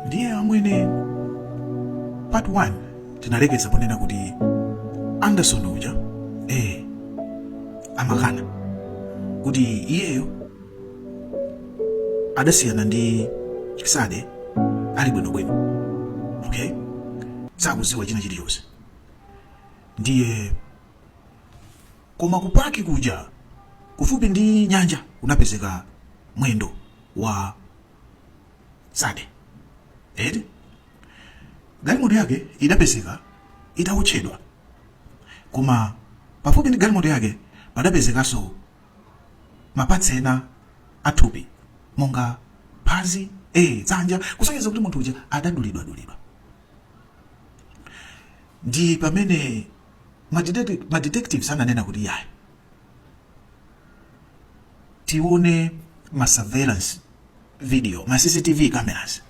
ndiye amwene part 1 tinalekeza ponena kuti anderson uja eh amakana kuti iyeyo adasiyana ndi sade ali bwinobwino okay sakuziwa china chilichonse ndiye koma kupaki kuja kufupi ndi nyanja kunapezeka mwendo wa sade eti galimoto yake idapezeka itawotchedwa koma pafupi ndi galimoto yake padapezekanso ma parts ena athupi monga phazi e dzanja kusonyeza kuti munthu uja adadulidwadulidwa ndi pamene madetectives ananena kuti yayi tione ma surveillance video ma cctv cameras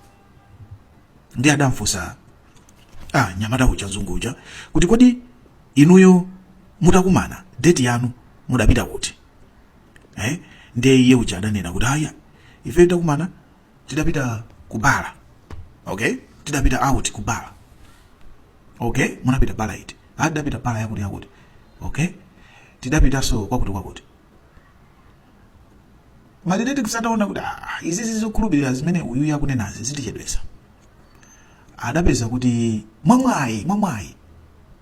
ndi adamfunsa ah, nyamata uja mzungu uja kuti kodi inuyo mutakumana date yanu mudapita kuti eh? ndiye iye uja adanena kuti aya ife titakumana tidapita ku bala okay tidapita out ku bala okay munapita bala iti ah tidapita bala yakuti yakuti okay tidapitanso kwakuti kwakuti ma detective ataona kuti ah, izi zokhulupirira zimene uyuyu akunenazi zitichedwesa adapeza kuti mwamwayi mwamwayi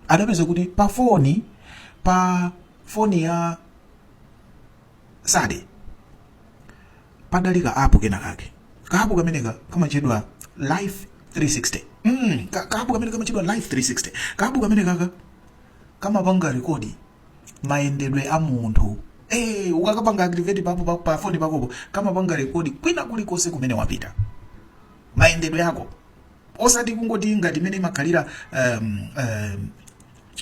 adapeza kuti pa foni pa foni ya sade padali ka app kena kake ka app kameneka kamatchedwa life 360 mm, ka, ka app kameneka kamatchedwa life 360 ka app kamenekaka kamapanga rekodi mayendedwe a munthu Eh, ukakapanga activate papo pa, pa phone pakopo kamapanga rekodi kwina kulikonse kumene wapita mayendedwe yako osati kungoti ngati mmene imakhalira um, um,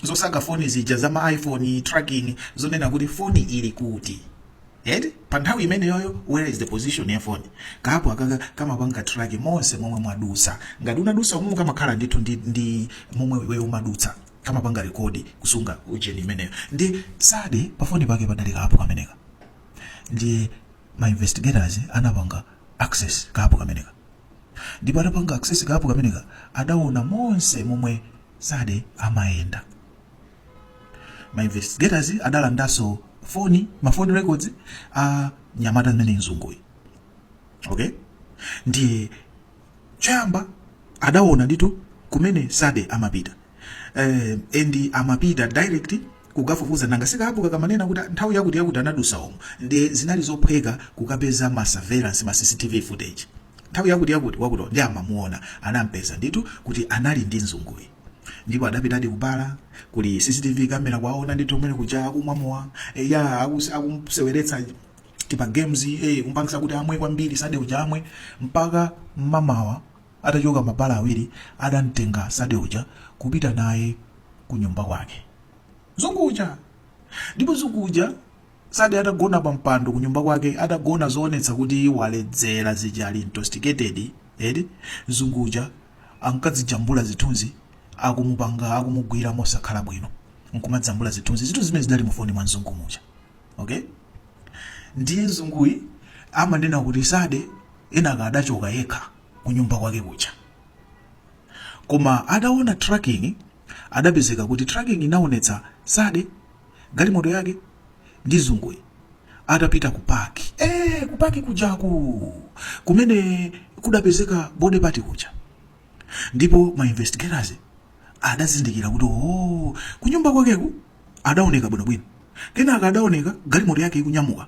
zosaka foni zija za ma iphone tracking zonena kuti foni ili kuti eti pa nthawi imeneyoyo where is the position ya foni ka app akaka kamapanga track monse momwe mwadusa ngati unadusa umu kamakhala ndithu ndi, ndi momwe iwe umadutsa kamapanga rekodi kusunga ujeni imeneyo ndi sade pafoni pake padali ka app kameneka ndi ma investigators anapanga access ka app kameneka ndipo atapanga access ka app kameneka adaona monse momwe sade amayenda ma investigators adalandanso foni ma phone records a mnyamata ameneyu mzunguyi okay ndiye choyamba adaona ndithu kumene sade amapita eh, and amapita direct kukafufuza nanga si kabwenzi kakamanena kuti nthawi yakuti yakuti anadusa umu ndi zinali zophweka kukapeza ma surveillance ma CCTV footage nthawi yakuti yakuti wakuti ndi amamuona anampeza ndithu kuti anali ndi mzunguyi ndipo adapitadi kubala kuli CCTV kamera kwaona ndithu kumene kuja akumwa mowa eh, ya akus- akumseweretsa tima games eh, kumpangisa kuti amwe kwambiri sade uja amwe mpaka m'mamawa Atachoka m'mabala awiri adamtenga Sade uja kupita naye kunyumba kwake. Mzungu uja! Ndipo mzungu uja Sade atagona pa mpando kunyumba kwake atagona zoonetsa kuti waledzera zija ali intoxicated eti mzungu uja ankadzijambula zithunzi akumupanga akumugwira mosakhala bwino nkumajambula zithunzi zithunzi zimene zidali mufoni mwa mzungu muja okay ndiye mzunguyi amanena kuti Sade kenaka adachoka yekha kunyumba kwake kuja koma ataona tracking adapezeka kuti tracking inaonetsa sade galimoto yake ndi mzunguyi atapita ku paki eh ku paki kujaku kumene kudapezeka body part kuja ndipo ma investigators adazindikira kuti oh kunyumba kwakeku adaoneka bwinobwino kenaka adaoneka galimoto yake ikunyamuka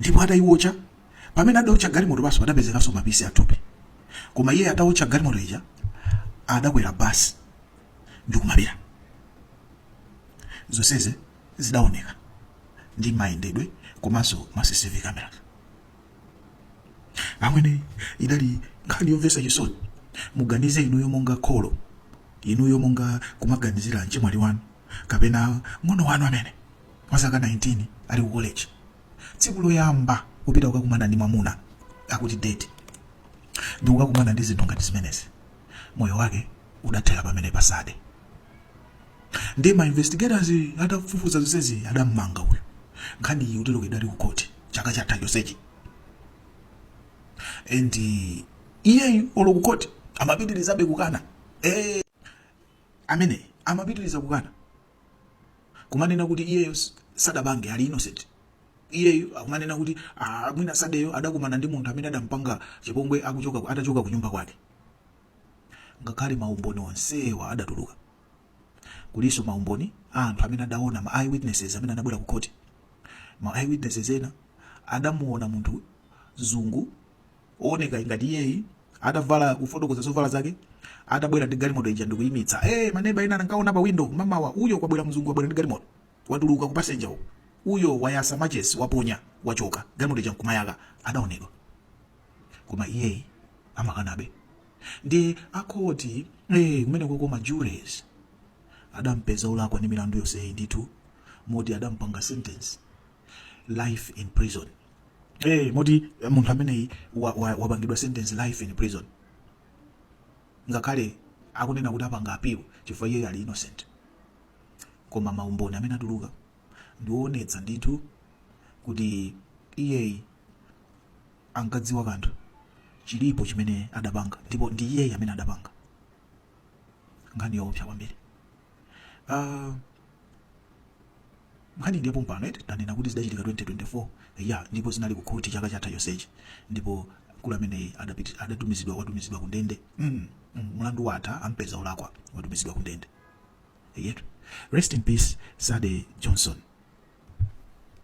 ndipo atayiwotcha pamene adawotcha galimoto paja padapezekanso mapisi athupi koma iye atawotcha galimoto ija adakwera basi ndikumapita zonseze zidaoneka ndi mayendedwe komanso ma cctv camera amwene idali nkhani yomvetsa chisoni muganize inuyo monga kholo inuyo monga kumaganizira mchemwali wanu kapena mng'ono wanu amene wa zaka 19 ali ku college tsiku loyamba kupita kukakumana ndi mwamuna akuti date ndi kukakumana ndi zinthu ngati zimenezi moyo wake udathera pamenepa sade ndi ma investigators atafufuza zonsezi adammanga uyu nkhani iyi uteroko idali ku court chaka chatha chonsechi and iyeyu olo ku court amapitirizabe kukana eh amwene amapitiriza kukana kumanena kuti iyeyo sadapange ali innocent iyeyo akumanena kuti ah, mwina sadeyo adakumana ndi munthu amene adampanga chipongwe akuchoka atachoka ku nyumba kwake ngakhale maumboni onsewa adatuluka kulinso maumboni a anthu amene adaona ma eyewitnesses amene anabwera ku khoti ma eyewitnesses ena adamuona munthu mzungu ooneka ngati iyeyi adavala kufotokoza zovala zake adabwera ndi galimoto ija ndikuyimitsa eh maneba ena ankaona pa window mamawa uyo kwabwera mzungu wabwera ndi galimoto watuluka ku passenger uko uyo wayasa matches waponya wachoka galimoto ija nkumayaka adaonedwa koma iyeyi amakanabe ndi kukhoti eh kumene koko ma juries adampeza olakwa ndi milandu yonseyi ndithu moti adampanga sentence life in prison eh moti eh, munthu ameneyi wa- wa- wapangidwa sentence life in prison ngakhale akunena kuti apanga appeal chifukwa iyeyi ali innocent koma maumboni amene atuluka ndi woonetsa ndithu kuti iyeyi ankadziwa kanthu chilipo chimene adapanga ndipo ndi iyeyi amene adapanga nkhani yoopsa kwambiri Ah, nkhani ndi yapompano eti tanena kuti zidachitika 2024 ya ndipo zinali kukhoti chaka chatha chonsechi ndipo mkulu ameneyi adapiti- adatumizidwa watumizidwa kundende mm, mm, mlandu watha ampeza olakwa watumizidwa kundende yetu rest in peace Sade Johnson